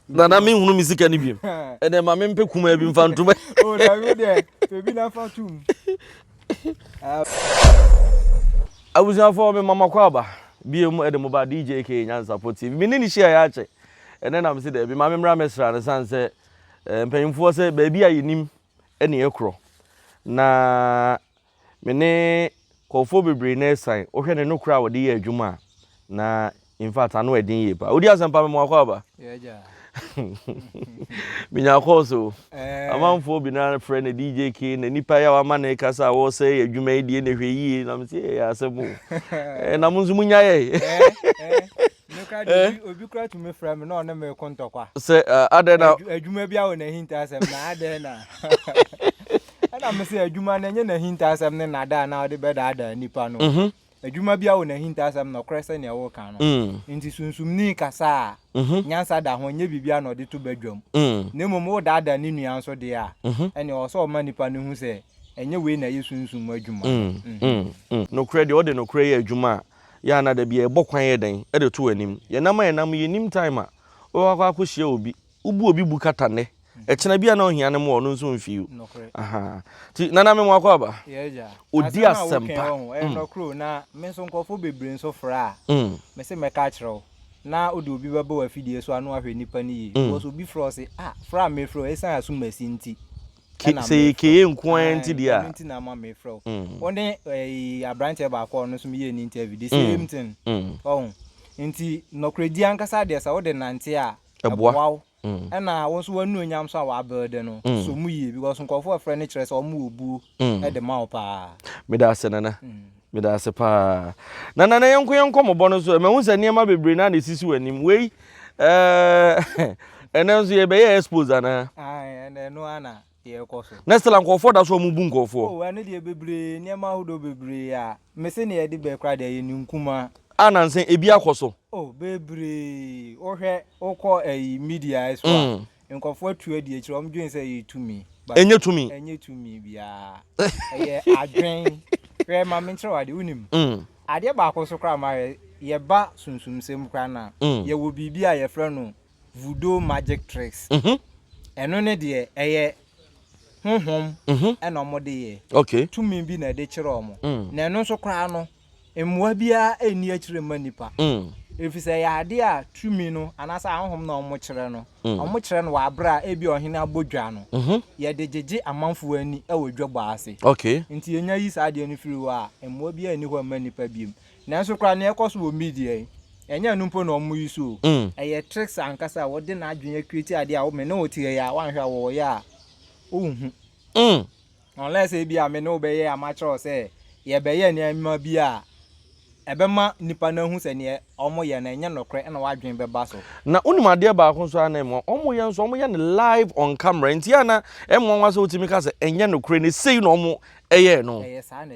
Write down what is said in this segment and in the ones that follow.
Nana mi nhunu mi sika ni bi. Ɛnɛ ma mi mpɛ kuma bi nfa ntum. O na mi dɛ ebi na fa tum. Abusuafo mi mama kɔ aba bie mu ɛde mo ba DJ aka Nyansapɔ TV mi ne ne hyia yɛ akyɛ ɛnɛ na mi si dɛ bi ma mi mra mɛ sra ne san sɛ mpanyinfoɔ sɛ baabi a yɛ nim ɛne yɛ korɔ na. Me ne nkurɔfoɔ bebree na ɛsan, wohwɛ ne nokorɛ a wɔde yɛ adwuma a, na in fact ano yɛ den yie paa. Wodi asɛmpa mema wakɔ aba? Yeah, agya. Menya kɔɔ so. Eh. Amanfoɔ bi na frɛ no DJ King, na nipa yi a wama ne kasa a wɔsɛ yɛ adwuma yi deɛ na hwɛ yie, na mese ɛyɛ asɛm o. Eh, na mo nso monyaeɛ. Eh, eh. Me kra de eh? obi kra tumi frɛ me na ɔne me ko ntɔkwa. Sɛ uh, adɛn na. Adwuma bi awɔ n'ahintasɛm na adɛn na. Ɛna me sɛ adwuma no ɛnyɛ n'ahintasɛm ne nada a na ɔde bɛdaadaa nipa no. Mhm. Adwuma bi awɔ n'ahintasɛm na ɔkorɛ sɛ nea wɔka no. Mm. Nti sunsumni kasa a mhm. nyansa da ho nyɛ biribi a na ɔde to badwam. Mm. Na mmom wodaadaa ne nua nso deɛ a mhm. ɛne ɔwɔ sɛ ɔma nipa no hu sɛ ɛnyɛ wei na ɛyɛ sunsum adwuma. Nokorɛ deɛ ɔde nokorɛ yɛ adwuma a Yɛ a na da bi yɛbɔ kwan yɛ dɛn de to anim. Yɛnam a yɛnam yi nnim time a wobɛkɔ akɔ akɔhyia obi. Wobu obi bu kata nnɛ. Ɛkyena bi a na ɔhia no mmoa ɔno nso mfi o. Nokorɛ. Ahaa. Ti nana me mo akɔ aba. Yes gya. Odi Asɛm a wokan asɛmpa. wɔ ho ɛyɛ Mm. nɔkorɛ o na me nso nkorɔfoɔ bebree nso frɛ a Mm. me se mɛka akyerɛ wo na wode obi bɛba w'afidie so a na wahwɛ nipa no yie Mm. because obi frɛ wo se ah frɛ a mefrɛ wo ɛsiane asomasi nti Ke sɛ ɛyɛ kee nko ara nti deɛ a. Ɛno nti na ama mefrɛ wo. Wo ne ɛyi aberanteɛ baako a ɔno nso meyɛɛ ne interview the same thing. Ɔho nti nɔkorɛdie ankasa deɛ sɛ wode nante a ɛboa wo ɛna wo nso w'anuonyam nso a wa build no so mu yie because nkurɔfoɔ frɛ no kyerɛ sɛ wɔn wɔ buo de ma wo paa. Meda ase Nana. Meda ase paa. Na Nana yɛnko yɛn nkɔmɔbɔ no so ɛ, mahu sɛ nneɛma bebree na na esisi w'anim. Wei ɛɛ ɛnɛ nso yɛbɛyɛ expose anaa? Ae, ɛnɛ ɛno ara na yɛrekɔ so. Na Stella nkurɔfoɔ da so a wɔbu nkurɔfoɔ. Oh, ɛno deɛ bebree, nneɛma ahodoɔ bebree a mese na yɛde bɛɛ koraa deɛ ɛyɛ ne nkumaa. A nansa ebi akɔ so. Oh, bebree. Wohwɛ, wokɔ ɛyi media so a, mm. Nkurɔfoɔ atu adi akyire, wɔn dwen sɛ ɛyɛ tumi, but Ɛnyɛ tumi. ɛnyɛ tumi biara. Ɛyɛ adwen. Hwɛ, ma menkyerɛ wo adeɛ, wonim, Mm, adeɛ baako nso koraa a mahwɛ, yɛba sunsumsɛm koraa no a, Mm. yɛwɔ biribi a yɛfrɛ no voodoo magic tricks. mhm, Ɛno ne deɛ, ɛyɛ honhom mhm. ɛna wɔde yɛ. Okay. Tumi bi na ɛde kyerɛ wɔn. Mm. Na ɛno nso koraa no, Mmoa biara nni akyire mma nnipa, ɛfiri sɛ ɛyɛ adeɛ a tumi no anaasɛ ahonhom no a wɔkyerɛ no, wɔkyerɛ no wɔ aberɛ a ebia ɔhene abɔ dwa no, yɛde gyegye amanfoɔ ani wɔ dwabɔ ase. Nti yɛnya yi saa adeɛ no firi hɔ a, mmoa biara nni hɔ mma nnipa biom. Nanso koraa nea ɛkɔ so wɔ Media yi, ɛnyɛ ɛno mpo na wɔyi so o, ɛyɛ tricks ankasa a wɔde n'adwene acreate adeɛ a me ne wo teɛ yi a woanhwɛ a wɔwɔ yɛ a wonhu. Unless ebia me ne wo bɛyɛ a makyerɛ wo sɛ yɛbɛyɛ nneɛma bi a ɛbɛma nnipa no ahu sɛ nea wɔyɛ no ɛnyɛ nokorɛ na w'adwene bɛba so. Na wonim adeɛ baako nso ara na ɛmmoa, wɔyɛ nso wɔyɛ no live on camera nti a na ɛmmoa wo ara sɛ wotumi ka sɛ ɛnyɛ nokorɛ na sei na wɔyɛɛ no. Ɛyɛ saa na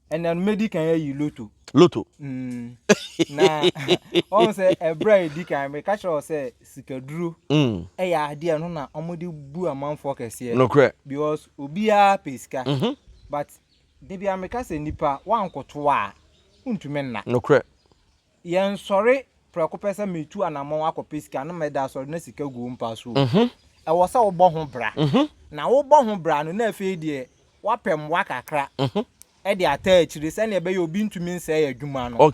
ɛnna no mɛdi kan ayi loto. Loto. Mm. na wɔn sɛ ɛberɛ a ɛdi kan meka kyerɛ wɔ sɛ sikaduro mm. ɛyɛ adeɛ no na wɔde bu amanfoɔ kɛseɛ. nokorɛ. because obiara pɛ sika. Mm -hmm. but da bia meka sɛ nipa woankoto a wontumi nna. nokorɛ. Yɛnsɔre prɛko pɛ sɛ meretu anammɔn akɔpɛ sika na mada asɔre na sika gu wo mpa so o. Ɛwɔ sɛ wobɔ ho bra, na wobɔ ho bra no na afei deɛ woapɛ mmoa kakra de ataa akyire sɛdeɛ ɛbɛyɛ a obi ntumi nsɛe adwuma no,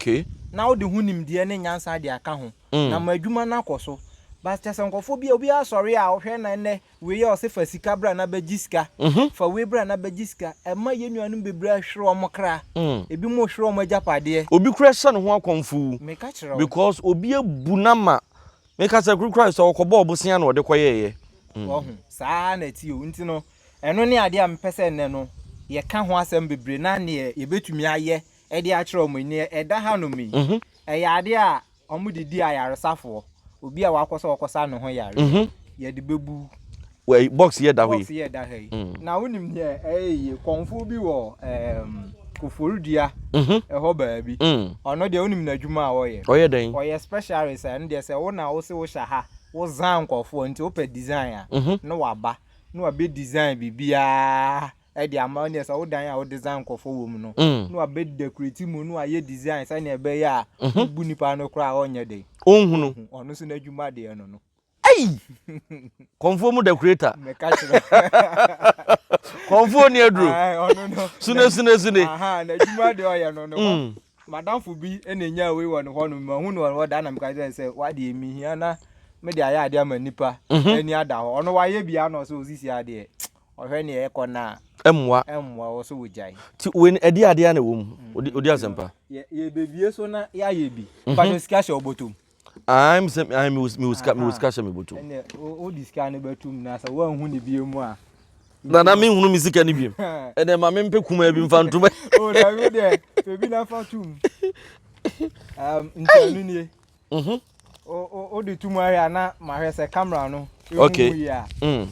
na wode ho nimdeɛ ne nyansa de aka ho, na ama adwuma no akɔ so. But kyerɛ sɛ nkurɔfoɔ bi a, obiara sɔre a, wohwɛ na ɛnnɛ Wei a ɔse fa sika bra na bɛgye sika, fa wei bra na bɛgye sika, ɛma yɛn nuanom bebree ahwere wɔn kra, ebinom rehwere wɔn agyapadeɛ. Obi koraa hyɛ ne ho akɔmfoo Meka kyerɛ wo. because obi abu no ama. Meka sɛ koro koraa sɛ ɔkɔbɔɔ bosea na ɔde kɔyɛeɛ. Wahu? Saa ara na ɛteɛ o. Nti no, ɛno ne adeɛ a mepɛ sɛ nnɛ no yɛka ho asɛm bebree na neɛ yɛbɛtumi ayɛ de akyerɛ wɔn yi, neɛ ɛda hanom yi, ɛyɛ adeɛ a wɔde di ayaresafoɔ obi a wakɔ sɛ ɔkɔsa ne ho yare mm -hmm. yɛde bɛbu wɔ box yɛ da hɔ yi box yɛ da ha yi mm. na wonim deɛ ɛyɛ yie kɔnfoɔ bi wɔ um, koforidua mhm. ɛhɔ baabi mm. ɔno deɛ wonim n'adwuma a ɔyɛ ɔyɛ dɛn ɔyɛ specialist a ɛno deɛ sɛ wo na wo se wohyɛ ha wozan nkɔfoɔ nti wopɛ design a mhm. na waba na wabɛ design biribiaa de ama wo neɛ sɛ wo dan a wo design nkɔfɔ wɔ mu no mm. na wabɛ decorate mu na wayɛ design sɛnea ɛbɛyɛ a mhm. wobu nipa no koraa ɔnyɛ dɛ ɔnhunu ɔno nso n'adwuma deɛ no no ayi kɔnfoɔ mu decorator mɛka kyerɛ kɔnfoɔ ni aduro sune sune sune n'adwuma deɛ ɔyɛ no no mm. madamfo bi na nya wei wɔ ne hɔ no mahu no wɔ da na meka kyerɛ sɛ wadeɛ mehia na mede ayɛ adeɛ ama nipa mhm. ani ada hɔ ɔno wayɛ bia na ɔsɛ ɔsisi adeɛ Ɔhwɛ nea ɛkɔ no a. Ɛmmoa. Ɛmmoa wɔ so wogyae. Ti wei no ɛde adeɛ na ɛwɔ mu. Odi odi asɛmpa. Yɛ yɛbɛbie so na yɛayɛ bi. Mpakyɛ sika hyɛ wo bɔtɔm. Ae me sɛ ae mewɔ mewɔ sika mewɔ sika hyɛ me bɔtɔm. Ɛnneɛ wo wode sika no bɛto mu na sɛ woanhu no bio mu a. Nana menhunu me sika no biom. Ɛnneɛ ma mempɛ kumaa bi mfa ntom. O daabi wodeɛ pɛ bi na fa to mu. Ɛɛm nti ɛno nie. Mhm. O o o de tum ahwɛ a na mahwɛ sɛ camera no ehu okay. mu yie a. Mm.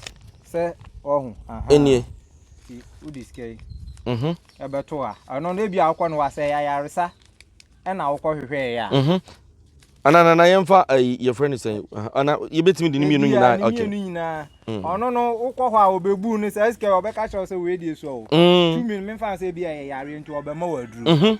Sɛ ɔho. Enie. Ti o de sika yi. Mhm. Ɛbɛto a. Ɛno no ebi a wokɔ no wasɛ ayaresa ɛna wokɔ hwehwɛ yɛ a. Mhm. Ana na na yɛmfa ayi eh, yɛfrɛ no sɛn ana yɛbɛtumi de ne mmienu nyinaa okay. Mmienu nyinaa. Mm. Ɔno no wokɔ hɔ a ɔbɛbu no sɛ sika ɔbɛka kyerɛ sɛ wei deɛ sua o. Mm. Tumi no memfa sɛ ebi a yɛ yareɛ nti ɔbɛma wɔ aduro. Mhm.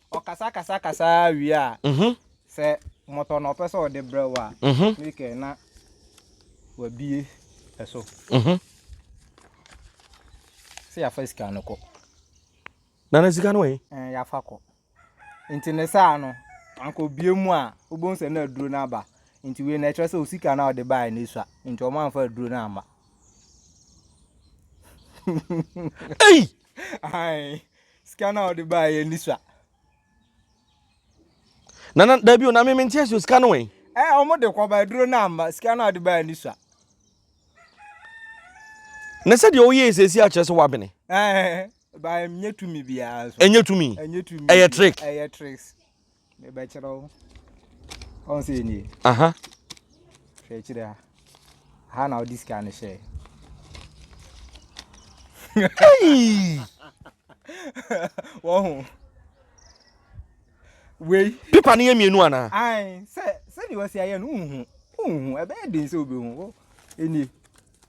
Ɔkasakasakasa ara wie a, sɛ mmɔtɔ na ɔpɛ sɛ ɔde brɛ wo a, Mikel na wabue ɛso. Sɛ yɛafa sika no kɔ. Na na sika no wɔ he? Yɛafa kɔ. Nti ne saa no, anka obue mu a, wobɛhu sɛ na aduro no aba. Nti wei na ɛkyerɛ sɛ osika no a ɔde baeɛ no asua. Nti wɔamfa aduro no amma. Ei! sika no a ɔde baa yɛ ni sua. na na dabi o na mi mi n tiɛ si o sika no wɛn. ɛ ɔmo de kɔ ba aduro no ama sika no a ɔde baa yɛ ni sua. na sɛ deɛ ɔyɛ esiesie akyerɛ sɛ wabene. ɛɛ ba ɛnyɛ tumi biara so. ɛnyɛ tumi ɛnyɛ tumi ɛyɛ trick ɛyɛ tricks. mebɛkyerɛ wo ɔn sɛ nie aha hwɛ akyirɛ ha ha na wode sika no hyɛɛ wɔho wei pepa no yɛ mmienu anaa sɛ sɛdeɛ wɔsi ayɛ no wohu wohu ɛbɛyɛ den sɛ wobɛhu ɛnie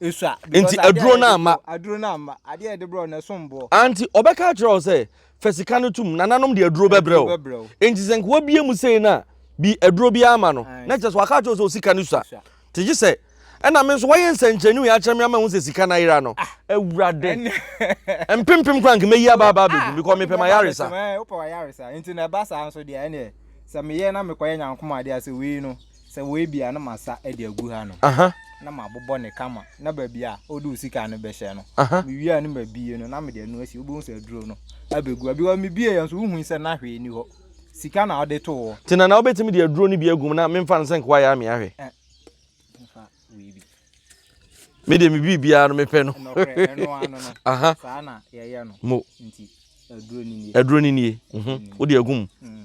Enti aduro no amma. Ante ɔbɛka akyerɛ wo sɛ, Fa sika no tom, nananom de aduro bɛbrɛ wo. Enti sɛ nka wabie mu sei na bi aduro biara ama no, na kyerɛ sɛ waka akyerɛ wo sɛ osika no sua. Te gye sɛ, ɛna me nso wayɛ nsɛnkyerɛnne wei akyerɛ me ama mahu sɛ sika no ayera no. Awurade! Mpempem koraa nka mɛyi aba aba abɛgu because mepɛ m'ayaresa. Sɛ meyɛ na mekɔyɛ nyankomadeɛ a, sɛ wei no. sɛ wei bia na masa de agu ha no na mabobɔ ne kama na baabi a ɔde osika no bɛhyɛ no mewie a no mabie no na mede ɛno asi wobɛhu sɛ aduro no abɛgu a bi wɔ mebie yɛ nso wohui sɛ na hwee ni hɔ sika na ɔde to hɔ nti na na wobɛtumi de aduro no bi agum na memfa no sɛ nkoa yɛ amea hwɛ medeɛ mebie biara no mepɛ no aha saa na yɛyɛ no mo aduro no nie wode agum mm.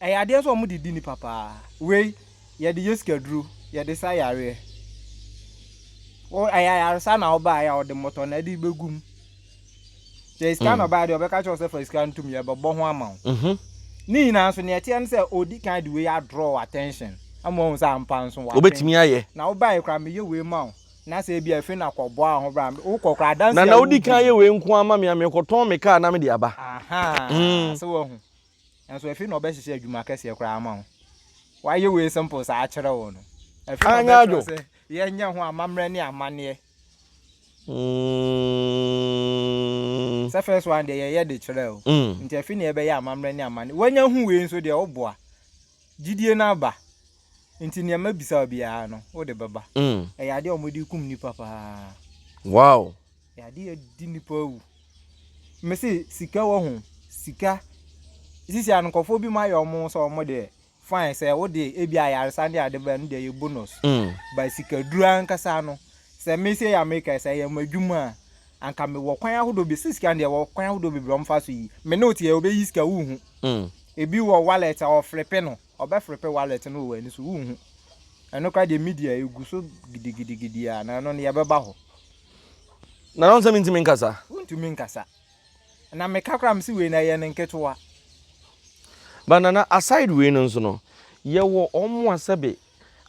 Ɛyɛ adeɛ nso a wɔde di nnipa paa. Wei, yɛde yɛ sikaduro, yɛde sa yareɛ. Wo, ɛyɛ ayaresa na wobaeɛ a, wɔde mmɔtɔ na ɛde bɛgu mu. Sɛ ɛyɛ sika na ɔbaeɛ deɛ, wɔbɛka kyerɛ wo sɛ fa sika no tom, yɛbɛbɔ ho ama wo. Mhm. Ne nyinaa nso, nea ɛteɛ ne sɛ, ɔdi kan de wei adraw w'attention ama woahu sɛ ampa nso w'adwene. Wobɛtumi ayɛ. Na wobaeɛ koraa, meyɛ wei ma wo, na sɛ ebia afei na kɔboa wo ho bra. Wokɔ koraa, adanseɛ a Nana, wodi wodi kan no. yɛ wei nko ara ma me, na mekɔtɔn me car na mede aba. Ahaa, Mm. sɛ woahu. Nanso afei na ɔbɛhyehyɛ adwuma kɛseɛ koraa ama wo. Wayɛ wei simple saa akyerɛ wo no. Afei na Anyɛ ɔbɛkyerɛ adwo. sɛ yɛnyɛ ho amammerɛ ne amanneɛ. Mm. Sɛ first one deɛ yɛyɛ de kyerɛ o. Mm. Nti afei na yɛbɛyɛ amammerɛ ne amanneɛ. Wanya hu wei nso deɛ woboa. Gyidie no aba. Nti nea mabisa wo biara no, wode bɛba. Mm. Ɛyɛ adeɛ a wɔde kum nnipa paa. Wow. Ade yɛ di nipa awu. Me se sika wɔ ho. Sika. Sisi a nkɔfoɔ bi mu ayɛ ɔmo sɛ ɔmo deɛ fine sɛ wo deɛ ebi ayaresa ne ade bɛn no deɛ yɛ bonus. Mm. Ba sikaduru ankasa no sɛ me se yɛ Amerika sɛ yɛ mo adwuma a anka me wɔ kwan ahodoɔ bi sɛ sika deɛ wɔ kwan ahodoɔ bebree ɔmo fa so yi. Me ne wo te yɛ ɔbɛ yi sika wo hu. Mm. Ebi wɔ wallet a ɔfrepe no ɔbɛ frepe wallet no wɔ ani so wo hu. Ɛno kora deɛ media egu so gidigidigidi a na ɛno no yɛ bɛba hɔ. Na ɔnsɛ mentumi nkasa. Wontumi nkasa. Na meka koraa mese wei no ɛyɛ no nketewa. But Nana aside wei no nso no, yɛwɔ wɔn a sɛbe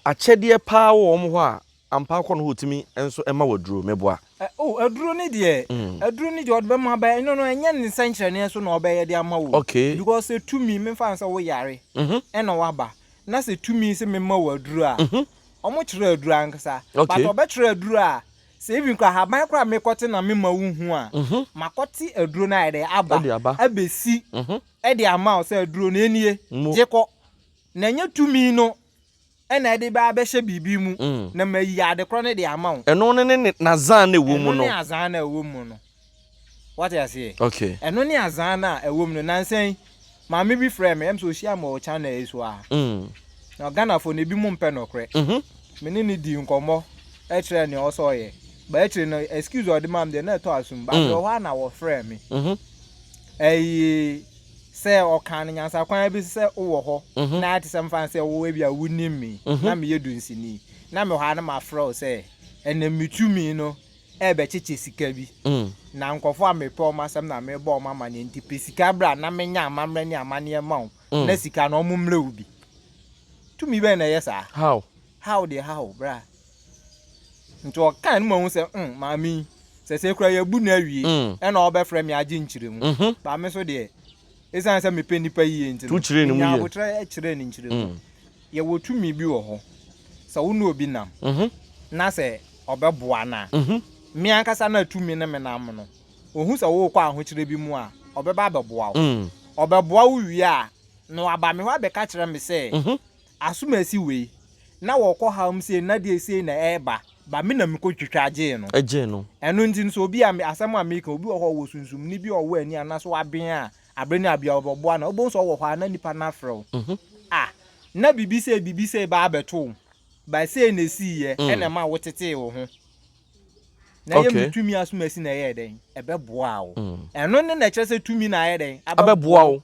akyɛdeɛ paa wɔ wɔn hɔ a ampa akɔ no hɔ ɔtumi nso ɛma wɔ aduro, meboa. Oh, aduro no deɛ, mm. aduro no deɛ ɔde bɛma bɛyɛ, ɛno no ɛnyɛ ne nsɛnkyerɛnneɛ so na ɔbɛyɛ de ama wo. Okay. Because sɛ tumi, memfa no sɛ woyare, mm-hmm. ɛna waba, na sɛ tumi sɛ mema wo aduro a, mm-hmm. Ɔmo kyerɛ aduru ankasa. Okay. But ɔbɛkyerɛ aduru a, sɛ even kora ahaban kora mekɔte na mema wo hu a, Mhm. makɔte aduro no ayɛ dɛ aba, Ɛde aba. abɛsi Mhm. ɛde ama wo sɛ aduro no enie, Mu. gye kɔ. Na ɛnyɛ tumi no ɛna ɛde bɛ abɛhyɛ biribi mu, Mm. na mayi adekorɔ no de ama wo. Ɛno ne ne ne n'azan na ɛwɔ mu Ɛno no. ne azan na ɛwɔ mu no. Wate aseɛ? Okay. Ɛno ne azaa no a ɛwɔ mu no. Nansa yi, maame bi frɛɛ me, ɛm sɛ ɔhyia me wɔ channel yi so a. Mm. Na Ghanafoɔ no, ebi mo mpɛ nokorɛ. Mm -hmm. Me ne ne dii nkɔmmɔ, ɛkyerɛɛ nea ɔsɛ ɔyɛ. Ba akyire no, excuse a ɔde maa me deɛ, na ɛtɔ asom. Ba mm. berɛ hɔ a na wɔfrɛɛ me. Mm -hmm. Ɛyi, sɛ ɔkaa no nyansakwan bi sɛ wowɔ hɔ, mm -hmm. na ayɛ te sɛ mfa sɛ wowɔ bi a wonim me, mm -hmm. na meyɛ dunsini. Na mewɔ ha na mafrɛ wo sɛ, ɛnɛ metumi no, rebɛkyekye sika bi. Na nkurɔfoɔ a mepɛ wɔn asɛm na merebɔ wɔn amanneɛ nti, pɛ sika bra na menyɛ amammerɛ ne amanneɛ mma wo na sika no wɔmmrɛ wo bi. Tumi bɛn na ɛyɛ saa? How? How deɛ how, bra. Nti ɔkaa no mahu sɛ mm, maame yi, sɛ sɛ koraa yɛabu no awie, ɛna ɔbɛfrɛ me agye nkyerɛmu. But me nso deɛ. Esiane sɛ mepɛ nnipa yiye nti no, minyaa aboterɛ kyerɛɛ ne nkyerɛmu. Yɛwɔ tumi bi wɔ hɔ, sɛ wo ne obi nam na sɛ ɔbɛboa no a, me ankasa na tumi ne me nam no, ohu sɛ worekɔ ahokyerɛ bi mu a, ɔbɛba abɛboa wo. Ɔbɛboa wo wie a, na waba me hɔ abɛka akyerɛ me sɛ, Asomasi wei na wɔkɔ haw mu sei na deɛ sei na ɛɛba ba me na me kɔ twitwa gyee no. Gyee no. Ɛno nti no sɛ obi a me asɛm a meka obi wɔ hɔ a ɔwɔ sunsumni bi a ɔwɔ ani anaa sɛ waben a abere ne abea ɔbɛboa no a wobɛhu sɛ ɔwɔ hɔ a na nipa no afrɛ wo ah na biribi sei biribi sei ba abɛto wo ba sei na ɛsiiɛ ɛna ɛma wo tetee wo ho na ɛyɛ me tumi asomasi na ɛyɛɛ dɛn ɛbɛboaa wo ɛno ne na ɛkyerɛ sɛ tumi na ayɛ dɛn abɛboa wo.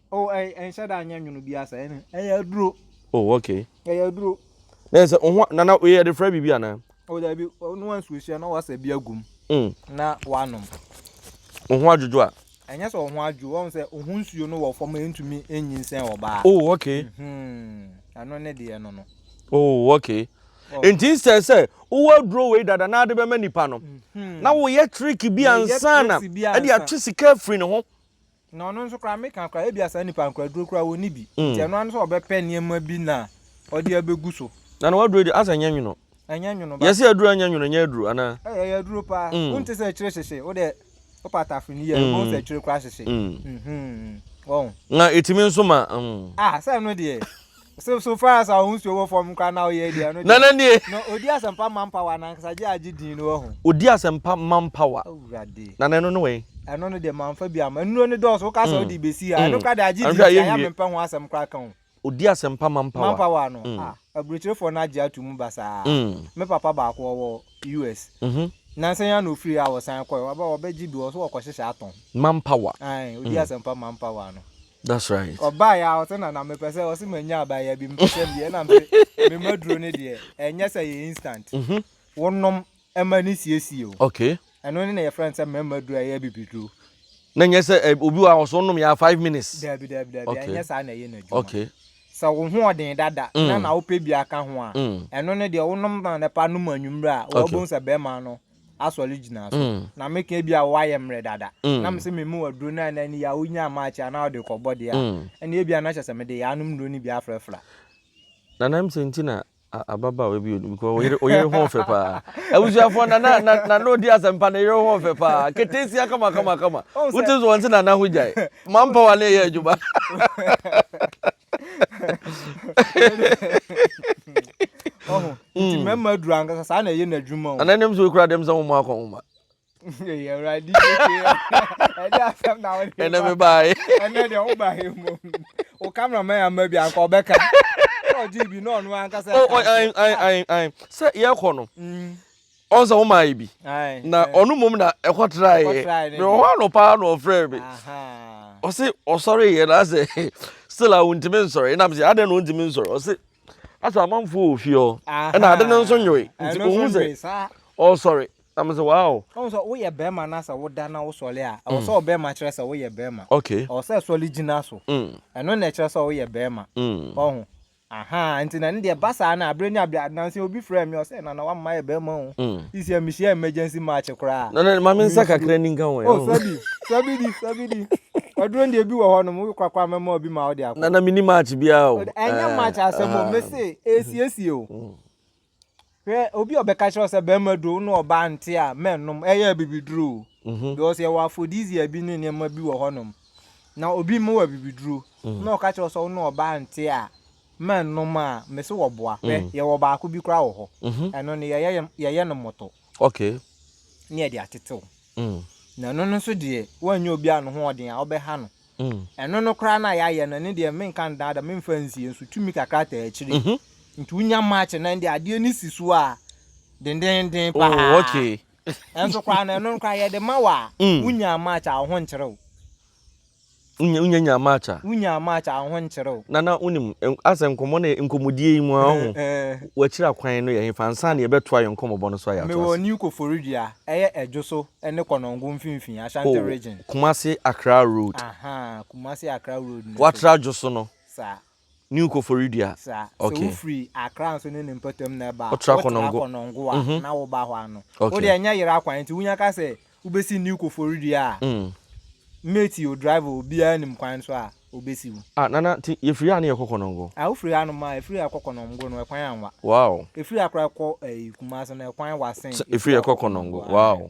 Oh ɛy ɛnhyɛ da nyɛ nwono biaa saa ɛne ɛyɛ aduro. Oh ok. Ɛyɛ aduro. Na yɛ sɛ oho nana yɛ de frɛ biribi anaa. Oh daabi na wansuo hyia na wasa bi agum mm. na wanom. Oho adwodwo a. Ɛnyɛ sɛ oho adwo wɔn sɛ oho nsuo no wɔ fam ɛntumi ɛnyinsɛn ɔbaa. Oh ok. Mm hmm. Ɛno ne deɛ no no. Oh ok. Oh. Nti sɛ sɛ wowɔ aduro wei dada na ade bɛma nipa no mm hmm. na woyɛ trick bi ansana ɛde atwe sika afiri ne ho. Na ɔno nso koraa, meka koraa, ebia saa nipa no koraa aduro koraa wɔnni bi. Nti ɛno ara ne sɛ ɔbɛpɛ nneɛma bi na ɔde abɛgu so. Na na w'aduro yi deɛ, asɛ ɛnyɛ nwono? Ɛnyɛ nwono ba. Yɛse aduro a ɛnyɛ nwono, ɛnyɛ aduro anaa? Ei, ɛyɛ aduro paa. Wonte sɛ akyire hyehye? Wo deɛ, wopɛ atafere no yie a, wobɛhu sɛ akyire koraa hyehye. Wahu? Na ɛtumi nso ma. Ah, sɛ ɛno deɛ. So so far as ahosuo wɔ fam koraa na ɔyɛ deɛ ɛno deɛ. Nana nie. Na ɔdi asɛmpa man power na ankasa gye agye din no wahu. Ɔdi asɛmpa man power. Awurade. Nana ɛno ne wɛn. Ɛno no deɛ manfa bi ama nnuro no dɔɔso woka sɛ ɔde bɛsi ha ɛno koraa deɛ agye din tia ya mempɛ ho asɛm koraa ka o. Ɔdi asɛmpa man power. Man power no ah aburokyerefoɔ no agye ato mu basaa me papa baako ɔwɔ US nansa yi ara na ɔfiri a ɔsan kɔɛ waba ɔbɛgye bi wɔ so wɔkɔhyehyɛ atɔn. Man power. Ae ɔdi asɛmpa man power no. That's right. Ɔbaa yɛ a ɔte na na mepɛ sɛ ɔse manya abaayewa bi mepɛ sɛ meyɛ na mpe me ma duro no deɛ ɛnyɛ sɛ yɛ instant. Mhm. Wonom ɛma no siesie o. Okay. Ɛno ne na yɛfrɛ no sɛ mmarima duro a ɛyɛ abibiduro. Na nyɛ sɛ ɛ obi wɔ ha ɔse wonom yɛ a five minutes. Daabi daabi daabi Okay. ɛnyɛ saa na ɛyɛ n'adwuma. Okay. Sɛ wo ho ɔden dada na Mm. na wopɛ bi aka ho a Mm. ɛno no deɛ wonom anɔpa nom anwumerɛ a Okay. wobɛhu sɛ bɛrima no asɔre gyina so mm. na meka bi a woayɛ mmerɛ dada mm. na mese me mu aduro no a na ni yɛ a wonya amaakye a na wode kɔbɔ deɛ a mm. ɛne ebi a na hyɛ sɛ mede yɛ anom nnuro no bi afrɛfra na nam sɛ nti na ababaawa bi odi because oyere oyere ho ɔfɛ paa abusuafo na na na na n'odi asɛmpa na oyere ho ɔfɛ paa ketesia kama kama kama wotu so wɔn ti na na ho gyae mampa wa ne yɛ adwuma. ɔho nti hmm. mɛma aduru ankasa saa na ɛyɛ n'adwuma o ana nim sɛ wokura dɛm sɛ woma akɔ woma ɛnɛ mebae ɛnɛ deɛ wobae mu wo cameraman ama bi anka ɔbɛka ɔgye bi na ɔno ankasa sɛ yɛkɔ no mm. ɔn sɛ womaa yɛ bi na ɔno mmom na ɛkɔtraeɛ mewɔ hɔ anɔpa na ɔfrɛɛ me ɔse ɔsɔreeɛ na asɛ still a wontumi nsɔre nam sɛ adɛn na ɔntumi nsɔre ɔse asɛ amanfoɔ wɔ fie hɔ ɛna ade no nso nyoe nti ɔhu sɛ ɔsɔre na mesɛ wow woyɛ bɛrima no sɛ woda na wosɔre a ɛwɔ sɛ ɔbɛrima mm. kyerɛ sɛ woyɛ bɛrima ɛwɔ sɛ sɔre gyina so mm. ɛno na ɛkyerɛ sɛ woyɛ bɛrima mm. ɔho Ahaa nti na ne deɛ ɛba saa no a berɛ nya berɛ a nansa yi obi frɛɛ me ɔsɛ Nana wama mayɛ bɛrima o mm. sisi a mehyia emergency match koraa Nana ma me nsa kakra ni nka ho oh sɔbi sɔbi di sɔbi di ɔduro deɛ bi wɔ hɔ nom wo kwakwa mɛma obi ma wo de akɔ Nana mini match biara o ɛnyɛ eh, match asɛm o ah. mese ɛsiesie o mm. Hwɛ, obi a ɔbɛka kyerɛ wo sɛ bɛrima duro wo ne ɔbaa nte a, mɛnnom. Ɛyɛ abibiduro o. Mhm. Because yɛwɔ aphrodisia bi ne nneɛma bi wɔ hɔnom. Na obi mma wɔ abibiduro mhm. na ɔka kyerɛ wo sɛ wo ne ɔbaa nte a, mɛnnom a, mese wɔboa. Hwɛ, mhm. yɛwɔ baako bi koraa wɔ hɔ. Ɛno no, yɛyɛ no moto. Okay. Ne yɛde atetew. Na ɛno no nso deɛ, woannyɛ obi a ne ho ɔden a, wobɛha no. Ɛno no koraa no a yɛayɛ no, ɛno deɛ, menka nnaadaa, memfa nsie nso, tumi kakra taa akyire. Nti wonya match na ɛnde adeɛ no si so a dendennden paa. Oh, okay. Ɛnso koraa no, ɛno no koraa yɛde ma wo a, wonyaa match a, wo ho nkyere wo. Wonya wonya nyaa match a. Wonyaa match a ho nkyerɛ o. Nana wonim asɛ nkɔmmɔ no yɛ nkɔmmɔdie yi mu a ɔho wakyira kwan no yɛ hefa ansa na yɛbɛtoa yɛn nkɔmmɔbɔ no so a yɛatoa ase. Mewɔ New Koforidua, ɛyɛ Adwo so ne Konongo mfimfini, Ashanti Region. Oh, Kumasi Accra Road. Ahaa, Kumasi Accra Road no so. Woatra Adwo so no. Saa. New Koforidua. Sa. Sɛ wo firi Accra nso ne ne mpatam na ɛba a, wo tra Konongo a na wo ba hɔ ano. Wo deɛ ɛnyɛ yera kwan nti wo nya ka sɛ wo bɛ si New Koforidua a, mate o, driver o, obiara nim kwan so a ɔbɛ si wo. Ah Nana, nti yɛ firi ha ne yɛ kɔ Konongo? Ah, wo firi ha nom a, yɛ firi ha kɔ Konongo no ɛkwan anwa. Wow. Yɛ firi Accra kɔ ɛyi Kumasi no ɛkwan wa sen yɛ firi ha kɔ Konongo. Wow.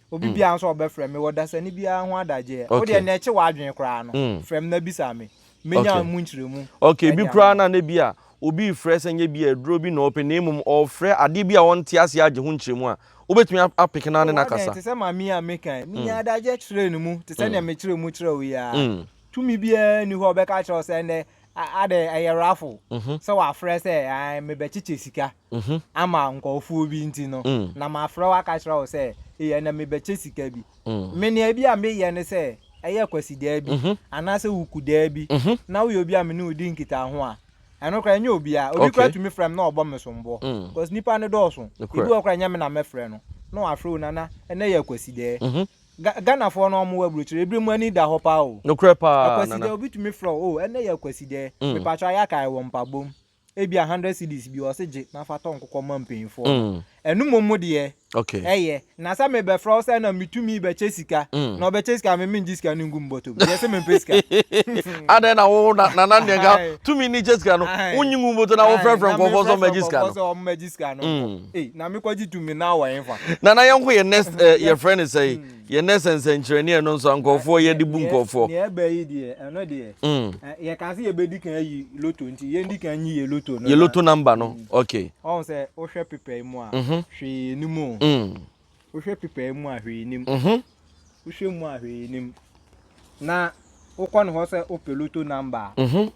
Obi biara nso a ɔbɛfrɛ me wɔ dasani biara ho adagyeɛ, wo deɛ nea ɛkye w'adwene koraa no, frɛ me na bisa me. Mɛnya mu nkyerɛmu. Okay, ebi koraa na na bi a obi refrɛ sɛ nyɛ bi a aduro bi na ɔrepɛ na mmom ɔrefrɛ adeɛ bi a ɔnte aseɛ agye ho nkyerɛmu a, wobɛtumi apeke no ara ne no akasa? Te sɛ maame yi a meka yi, menyaa adagyeɛ kyerɛɛ ne mu te sɛ nea mekyerɛ mu kyerɛ wo yi ara. Tumi biara nni hɔ a ɔbɛka akyerɛ wo sɛ ɛnnɛ Ade ɛyɛ raffle mhm. sɛ wafrɛ sɛ mebɛkyekyɛ sika mhm. ama nkɔɔfoɔ bi nti no mm. na mafrɛ wo aka kyerɛ wo sɛ yɛ na mebɛkyɛ sika bi mm. menea bi a meyɛ ne sɛ ɛyɛ kwasidaa bi mhm. anaasɛ wukudaa bi na woyɛ obi a mene wodi nkita ho a ɛno kora ɛnyɛ obia obi kora tumi frɛ m na ɔbɔ me somboɔ mm. cause nipa no dɔɔso ebi wɔ kora ɛnyɛ me na mɛfrɛ no na wafrɛ wo nana ɛnɛ yɛ kwasidaa Ga Ghanafoɔ no ɔmo wɔ aburokyire ebire mu ani da hɔ paa o. Nokorɛ paa Nana. Akwasidɛ obi tumi frɛ wo oh ɛnɛ yɛ akwasidɛ mm. Mepatwɔ ayɛ akae wɔ mpabom ebia hundred cedis bi ɔse gye na fa tɔ nkokɔ ma mpanyinfoɔ no mm. Ɛno momo deɛ okay. ɛyɛ na sɛ mebɛfrɛ wo sɛ na metumi bɛkyɛ sika mm. na ɔbɛkyɛ sika me mengye sika no ngu me bɔtɔ mu deɛ sɛ mempɛ sika adɛn na wo na nana deɛ nka tumi ne kyɛ sika no wonyi ngu bɔtɔ na wofrɛfrɛ nkɔfoɔ sɛ ɔmɛgye sika no sɛ ɔmɛgye sika no mm. Ei, na mekɔgye tumi no wɔ hefa? Nana yɛnkɔ yɛ nurse ɛ eh, yɛfrɛ no sɛe hmm. yɛ nurse nsɛnkyerɛnneɛ no nso nkurɔfoɔ yɛde bu nkurɔfoɔ. Nea ɛbɛ yi deɛ ɛno deɛ hmm. yɛka sɛ yɛbɛdi kan ayi loto nti yɛndi kan nyi yɛ loto no yɛ loto number no hmm. ok. Ɔhu sɛ wohwɛ pepɛ yi mu a mhm. hwee ni mu o. Wohwɛ pepae mu a hwee nnim. Mhm. Wohwɛ mu a hwee nnim. Na wokɔ ne hɔ sɛ wopɛ loto number a, Mhm.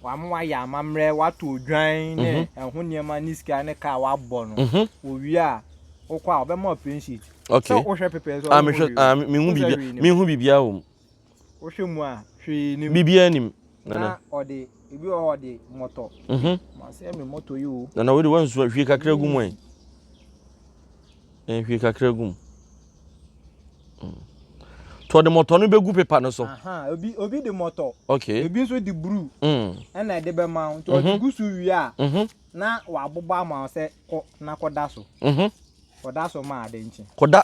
wama wayɛ amammerɛ, wato odwan ne Mhm. ɛho nneɛma ne sika ne kaa a wabɔ no. Mhm. Wowie a, wokɔ a, ɔbɛma wo plain sheet. Okay. Sɛ wohwɛ pepae so a, Ah, wonhu mehwɛ, hwee ah, o. me- mehu Wonhu sɛ biribi, hwee nnim. mehu biribiara wɔ mu. Wohwɛ mu a, hwee nim. Biribiara nim. Nana. Na ɔde ebi wɔ hɔ ɔde mmɔtɔ. Mhm. Masɛ me mmɔtɔ yi o. Nana wei de wansu hwie kakra gu mu ɛ. Ɛn hwie kakra gu mu. Mm. To ɔde mmɔtɔ no bɛgu pepa no so. Aha, obi obi de mmɔtɔ. Okay. Ebi nso de bruu. Mm. Ɛna ɛde bɛma wo. Nti ɔde gu so wie a, Mhm. na wabobɔ ama wo sɛ kɔ na kɔda so. Mhm. Kɔda so ma ade nkye. Kɔda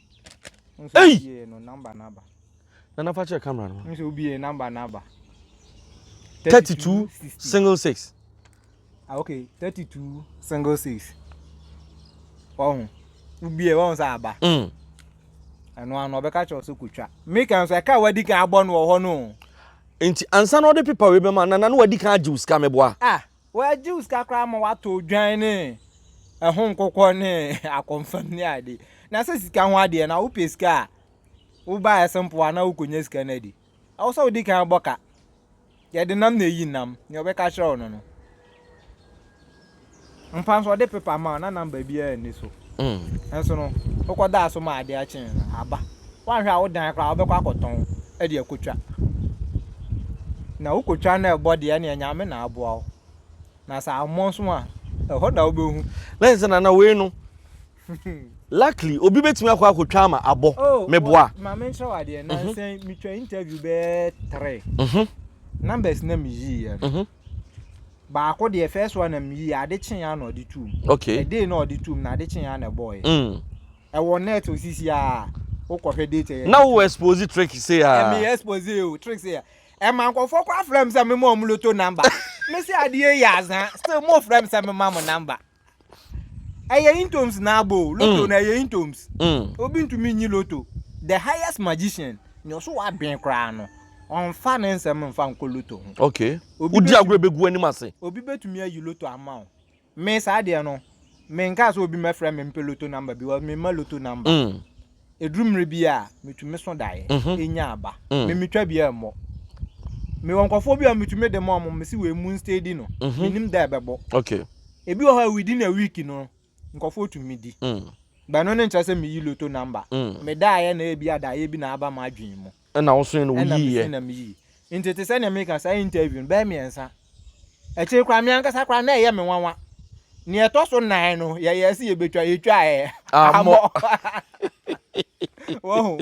Ei! Yɛ no number number. Na na fa kyerɛ camera no. Nso obi yɛ number number. 32 single six. Ah okay, 32 single six. Wahu. Obi yɛ wahu sa aba. Mm. Ɛno ano ɔbɛka kyerɛ so kotwa. Me kan so ɛka wadi kan abɔ no wɔ hɔ no. Nti ansa na ɔde pepa we bɛma na na wadi kan agye sika meboa. Ah. Wɔagye wo sika koraa ma woatɔ odwan ne ɛho nkokɔ ne akɔmfam ne ade. Na sɛ sika ho adeɛ na wopɛ sika a, woba ɛse mpoa na wokɔnya sika no adi. Ɛwɔ sɛ wodi kan bɔ ka. Yɛde nam na ɛyi nam, nea ɔbɛka kyerɛ wo no no. Mpa nso ɔde pepa ma wo na namba biara nni so. Nso no, wokɔdaa so ma adeɛ kyee no, aba. woanhwɛ a wo dan koraa wobɛkɔ akɔtɔn de akɔtwa. Na wokɔtwa na ɛbɔ deɛ ɛneɛ Nyame na aboa wo. Na sɛ ammɔ nso a, ɛhɔ na wobɛhu. Lɛn sɛ nana wei no luckily obi bɛtumi akɔ akɔtwa ama abɔ oh, meboa. Ma menkyerɛ wadeɛ na mhm. nsɛn metwa interview bɛɛ three mhm. numbers na meyiiɛ no mhm. baako deɛ first one na meyii ade kyeeɛ na ɔde tuom ɛdee na ɔde tuom na ade kyeeɛ na ɛbɔɔɛ mm. Ɛwɔ net so sisi a wokɔ hwɛ date yɛ. Na wo expose trick se a. Me expose o trick se a. Ɛma nkɔfoɔ kɔ afrɛ me sɛ me ma ɔmo loto number. Me se adeɛ yi azaa still mo frɛ me sɛ me ma mo number. Ɛyɛ intoms na abo o loto na ɛyɛ intoms. Obi ntumi nyi loto. The highest magician nea ɔso wɔ adwen koraa no ɔnfa ne nsɛm nfa nkɔ loto ho. Okay. Wodi agorɔ ebegu w'anim ase. Obi betumi ayi loto ama wo. Me saa deɛ no me nkaa sɛ obi mɛfrɛ me mpɛ loto number because me mma loto number. Mm. Eduru mmerɛ bi a metumi so daeɛ Mhm. enya aba. Mm. Me metwa bi ɛmmɔ. Mewɔ nkurɔfoɔ bi a metumi de ma wɔn mese wei monsteady no. Mhm. Menim da a ɛbɛbɔ. Okay. Ebi wɔ hɔ a within a week no nkurɔfoɔ tumi di. Mm. But ɛno no nkyerɛ sɛ meyi loto number. Mm. Medaeɛ na ebia daeɛ bi na aba m'adwene mu. Ɛna wo soe no wo yii yɛ. Ɛna me soe na me yii. Nti te sɛ nea meka saa interview no bɛyɛ mmiɛnsa. Akyiri koraa me ankasa koraa na ɛyɛ me nwanwa. Nea ɛtɔ so nnan no yɛyɛɛ sɛ yɛbɛtwa, yɛtwaɛ. Ammɔ. Wahu?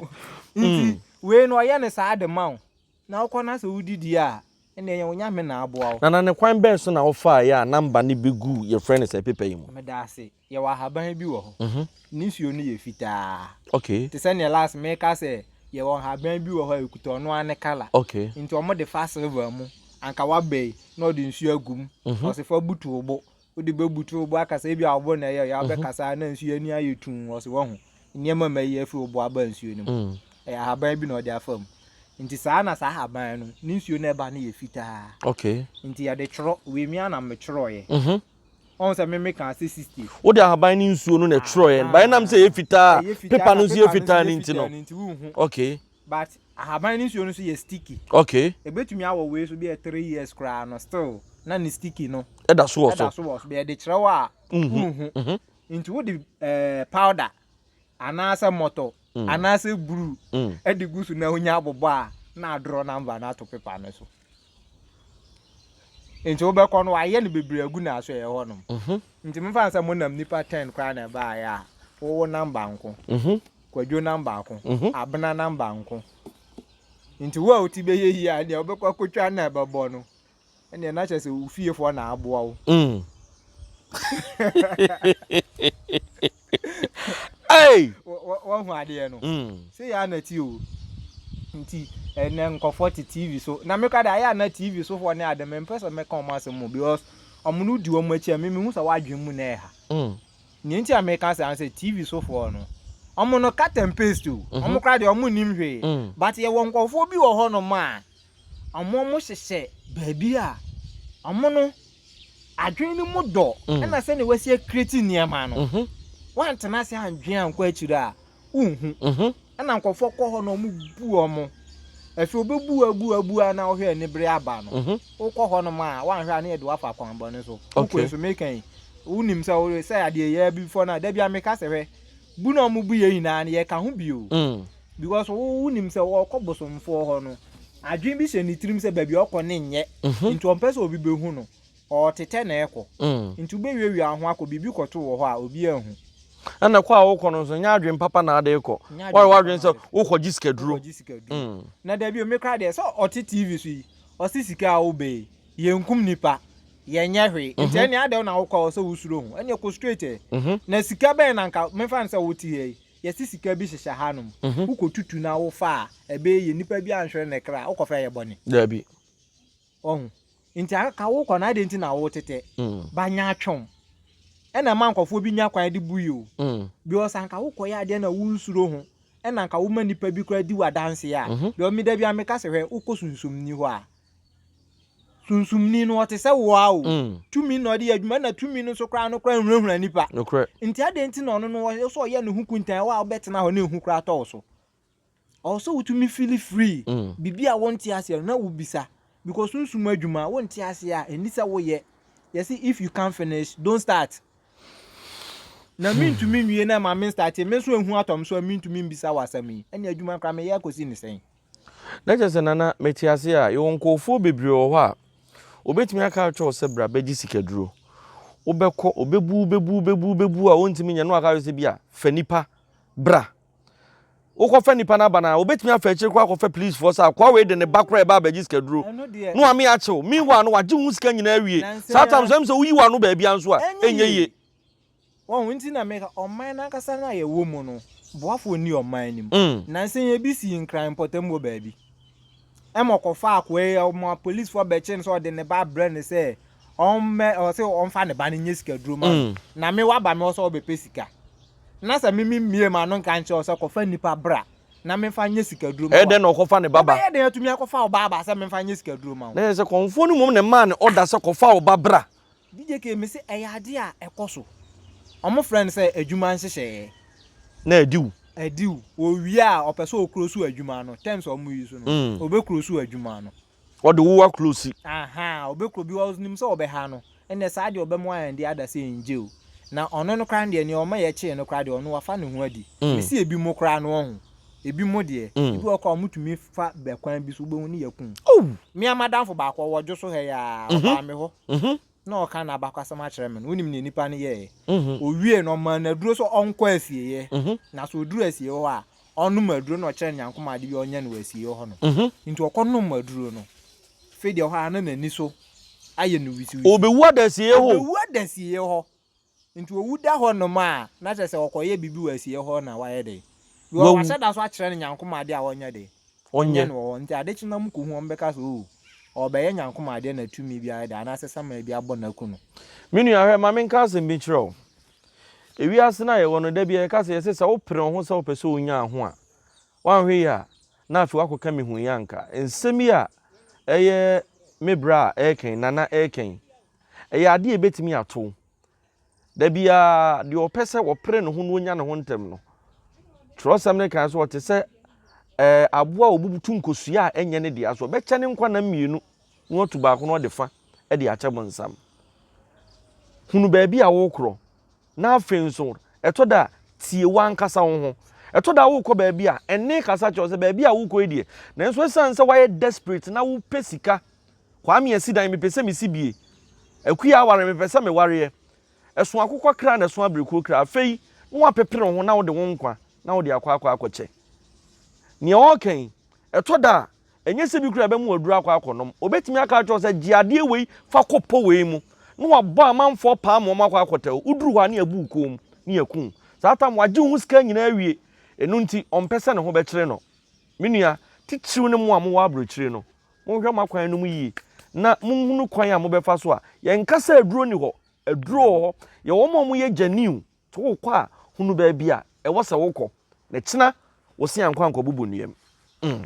Nti wei no ɔyɛ no saa de ma wo. Na wokɔ na sɛ wodidi a, ɛnneɛ yɛn Onyame na aboa wo. Nana ne kwan bɛn so na wofaaɛ a number no bɛguu yɛfrɛ no sɛ paper yi mu? Meda ase. yɛwɔ ahaban bi wɔ hɔ. Ne nsuo no yɛ fitaa. Te sɛ neɛ last meka sɛ yɛwɔ ahaban bi wɔ hɔ a ɛkuta ɔno ara ne colour. Nti ɔmo de fa silver mu. Anka w'aba yi na ɔde nsuo agu mu. Ɔse fa butu wo bo. Wode bɛ butu wo bo akasa ebia wo bo na ɛyɛ yaw bɛ kasa na nsuo ani ayɛ tumm. Ɔse wahu nneɛma mayi afiri wo bo aba nsuo no mu. Ɛyɛ ahaban bi na ɔde afa mu. Nti saa na saa ahaban no ne nsuo no ɛba no yɛ fitaa. Nti yɛde twerɔ. Wei me ara na me twerɔeɛ. Ɔn sɛ me me kaa sɛ sixty. Wode ahaban ne nsuo no na ɛtwerɛeɛ no but ɛnam sɛ ɛyɛ fitaa a paper no nso yɛ fitaa no nti no okay. But ahaban ne nsuo no nso yɛ sticky. Okay. Ɛbɛtumi awɔ wei so bɛyɛ three years koraa no still na ne sticky no ɛda so wɔ so. Ɛda so wɔ so bɛyɛ de kyerɛ wo a wonhu nti wode powder. anaasɛ mmɔtɔ mm. anaasɛ bruu mm. de gu so na wonya abobɔ a na adorɔ namba no ato pepa no so nti wobɛkɔ no wayɛ no bebree agu n'aso ɛyɛ hɔnom mhm. nti mefa sɛ monam nipa ten koraa na ɛbaeɛ a wowo namba nko mhm. kwadwo namba nko mhm. abena namba nko nti wo a woti bɛyɛ yie a deɛ wobɛkɔ akɔtwa na ɛbɛbɔ no Ɛnneɛ na kyerɛ sɛ wo fiefoɔ na aboa wo. Wahu adeɛ no. Sɛ yɛ ana ti o. Nti ɛnɛ nkɔfoɔ te TV so. Na me kora de ayɛ ana TV so foɔ ne ade me mpɛ sɛ mɛka wɔn asɛm mu because wɔn no di wɔn akyi a me mehu sɛ wɔn adwene mu na ɛha. Nea nti a meka sɛ ano sɛ TV so foɔ no wɔn no cut and paste o. Wɔn kora deɛ wɔn nim hwee. But yɛwɔ nkɔfoɔ bi wɔ hɔnom a. Ɔmo ɔmo hyehyɛ baabi a ɔmo no adwene no mu dɔ mm. ɛna sɛnea wɔasi akireti nneɛma no mhm. wantena ase andwene ankɔ akyire a wonhu mhm. ɛna nkɔfoɔ kɔ hɔ na ɔmo bu ɔmo ɛfɛ obebu abu abu a na ɔhwɛ anibere aba no mhm. wokɔ hɔ nom a wanhwɛ a ne yɛde wafa akwanbɔne so wokɔ nso meka yi wonim sɛ wode sɛ adeɛ yɛ bi fɔ no a da bia meka sɛ hwɛ bu na ɔmo bu yɛ nyinaa no yɛka ho bio mm. because wo nim sɛ ɔkɔ bosomfoɔ hɔ no adwene bi hyɛ ne tirim sɛ baabi ɔkɔ ne nyɛ mhm. nti ɔmpɛ sɛ obi bɛhu no ɔtetɛ na ɛkɔ mm. nti wobɛwiawia ho akɔ biribi kɔto wɔ hɔ a obi ahu ɛna kɔ a wokɔ no nso nyɛ adwene papa na ade kɔ wɔre wadwene sɛ wokɔgye sikaduro mm. na dabi omi kora deɛ sɛ ɔte tv so yi ɔse sika a wobɛyi yɛnkum nipa yɛnyɛ hwee mhm. nti ɛne adɛw na wokɔ a ɔsɛ wosuro ho ɛne ɛkɔ straight ɛ mhm. na sika bɛn na nka mefa no sɛ wote ha yi Yɛse sika bi hyehyɛ ha nom wokɔ tutu na wo fa a ɛbɛyɛ yie nipa bi anhwere ne kra wokɔ fa yɛ bɔne. Dabi. Wahu nti aka wokɔ no adɛn nti na wo tetɛ ba nya atwom ɛna ɛma nkɔfoɔ bi nya kwan de bu yi o because anka wokɔ yɛ adeɛ na wo nsuro ho ɛna anka woma nipa bi kora di wo adanseɛ a because me da bi a meka se hwɛ wokɔ sunsomni hɔ a Sunsumni no, ɔte sɛ wo ara o. Mm. Tumi na ɔde yɛ adwuma, ɛna tumi no nso koraa no koraa nhunahuna nnipa. Nokorɛ. Nti adɛn nti na ɔno no ɔyɛ sɛ ɔyɛ ne ho kuntan wɔ a wobɛtena hɔ na ehu koraa atɔ wo so? Ɔwɔ sɛ wotumi fili free. Mm. Biribi a wonte aseɛ no na wobisa. Because sunsum adwuma a wonte aseɛ a ɛni sɛ woyɛ. Yɛse if you can't finish, don't start. Na hmm. mentumi nwie na ɛma me start, me nso ehu atɔ me so a mentumi mbisa wo asɛm yi. Ɛne adwuma koraa meyɛ akɔsi ne sɛn? Na kyerɛ sɛ, Nana, mete ase a, yɛwɔ nkorɔfoɔ bebree wɔ hɔ a, wɔbɛtumi aka akyerɛ wo sɛ bra bɛgye sikaduro. Wobɛkɔ, wɔbɛbu wo, bɛbu wo, bɛbu wo, bɛbu wo a wɔntumi nyɛ, na wɔaka akyerɛ wo sɛ bi a, fa nipa bra. Wokɔfa nipa no aba no a, wɔbɛtumi afa akyire koraa akɔfa policefoɔ sɛ akoa wei de ne ba koraa ɛba abɛgye sikaduro, na wɔame akye wo. Meanwhile no, wɔagye wo ho sika nyinaa awie. Saa time nso, ɛwom sɛ woyi w'ano baabiara nso a, ɛnyɛ yie. Wɔn nti na meka, ɔman no ankasa no a yɛwɔ mu no, boafoɔ nni ɔman no mu. Nansa yi ebi sii Nkran mpɔtam wɔ baabi. Ɛma ɔkɔfaa akoa yi, ɔma apolisifoɔ bɛkyee no sɛ ɔde ne ba abrɛ no sɛ ɔmmɛ, ɔse ɔmfa ne ba no nyɛ sikaduro mma no. Na me woaba me hɔ sɛ wobɛpɛ sika. Na sɛ me memmue m'ano nka nkyerɛ wo sɛ kɔfa nnipa bra na memfa nyɛ sikaduro mma wo a. Ɛyɛ dɛn na ɔkɔfa ne ba ba? Wobɛyɛ dɛn atumi akɔfa wo ba aba sɛ memfa nyɛ sikaduro mma wo? Na ɛyɛ sɛ kɔmfoɔ no mmom na ɛmaa no ɔda sɛ kɔfa wo ba bra. DJ Kay mese ɛyɛ adeɛ a ɛkɔso. Ɔmo frɛ no sɛ adwuma nhyehyɛɛ. Na adiw. Adiw. Owie a ɔpɛ sɛ ɔklosu adwuma no, terms a ɔmo use no, ɔbɛklosu adwuma no. Ɔde wo aklosi. Ahaa, ɔbɛklo bi ɔs nim sɛ ɔbɛha no. Ɛnneɛ saa deɛ ɔbɛmoa yɛn deɛ ada sɛ ɛngye o. Na ɔno no koraa no deɛ, nea ɔma yɛkyee no koraa deɛ, ɔno wafa ne ho adi. Mese ebi mo koraa no ɔho. Ebi mo deɛ, ebi wɔ hɔ koraa a ɔmo tumi fa bɛ kwan bi so wobɛhu ne yɛku no. Mea madamfo baako ɔwɔ dwo so ha yi aa, ɔbaa me hɔ na ɔɔka n'abakɔsɛm akyerɛ me no, wonim neɛ nipa no yɛɛɛ? Owiee no ɔmaa no aduro sɛ ɔnkɔ asieɛ na sɛ ɔduru asieɛ hɔ a ɔnnom aduro na ɔkyerɛ no nyankomaa ade bi a ɔnyɛ no wɔ asieɛ hɔ nom. Nti ɔkɔ nom aduro no, fei deɛ hɔ aa na n'ani so ayɛ no wisiwisi. Ɔbɛwu ada asieɛ hɔ o. Ɔbɛwu ada asieɛ hɔ. Nti owu da hɔ nom a, na kyerɛ sɛ ɔkɔyɛ biribi wɔ asieɛ hɔ na wayɛ dɛn? Bi wɔ hɔ wahyɛ da so akyerɛ no Nyankoma adeɛ a ɔnyɛ dɛn? Ɔnyɛ no wɔ hɔ. Nti ade kye no na mokɔhu a, mobɛka sɛ oo, ɔrebɛyɛ Nyankoma adeɛ na tumi bi ayɛ dɛn anaasɛ saman bi abɔ no aku no. Me nua, hwɛ, ma menka asɛm bi nkyerɛ wo. Ewiase no a yɛwɔ no, da biara yɛka sɛ yɛse sɛ wopere wo ho sɛ wopɛ sɛ wonya ho a, woanhwɛ yie a, na afei woakɔka mehuiɛ anka. Nsɛm yi a ɛyɛ me bra a ɛreka yi, Nana ɛreka yi, Ɛyɛ ade a ebetumi ato wo. Da biara, deɛ ɔpɛ sɛ ɔpere ne ho na onya ne ho ntɛm no, twerɛsɛm no kae sɛ ɔte sɛ ɛɛ aboa a ɔbutu nkosua a ɛnyɛ ne dea so. Ɔbɛkyɛ ne nkwa nna mmienu na watu baako na ɔde fa de akyɛ bonsam. Hunu baabi a wokorɔ, na afei nso ɛtɔ da a, tie w'ankasa wo ho. Ɛtɔ da a wokɔ baabi a, ɛnne kasa kyerɛ wo sɛ baabi a wokɔ yi deɛ, nanso ɛsiane sɛ woayɛ desperate na wopɛ sika Kwame asi dan mepɛ sɛ mesi bie Akua aware mepɛ sɛ mewareɛ Ɛso akokɔ kra na ɛso aberekuro kra Afei na woapepere wo ho na wode wo nkwa na wode akɔ akɔ akɔkyɛ Nea ɔreka yi ɛtɔ da a ɛnyɛ sɛ bi koraa ɛbɛma waduru akɔ akɔnom Ɔbɛtumi aka akyerɛ wo sɛ gye adeɛ wei fa kɔ pɔ wei mu na wabɔ amanfoɔ paa ma wɔn akɔ akɔtɛ wo Woduru hɔ a na yɛabu wo kɔn mu na yɛaku wo Saa tam wagye wo ho sika nyinaa awie Ɛno nti ɔmpɛ sɛ ne ho bɛkyere no Me nua titiriw ne mo a mowɔ aburokyire no Monhwɛ mo akwan no mu yie na monhunu kwan a mobɛfa so a. Yɛnka sɛ aduro nni hɔ. Aduro wɔ hɔ. Yɛwɔ wɔn a wɔyɛ gyaniu nti wokɔ a hunu baabi a ɛwɔ sɛ wokɔ na ɛkyena wo se ankɔ ankɔbubu nnua mu. Mm.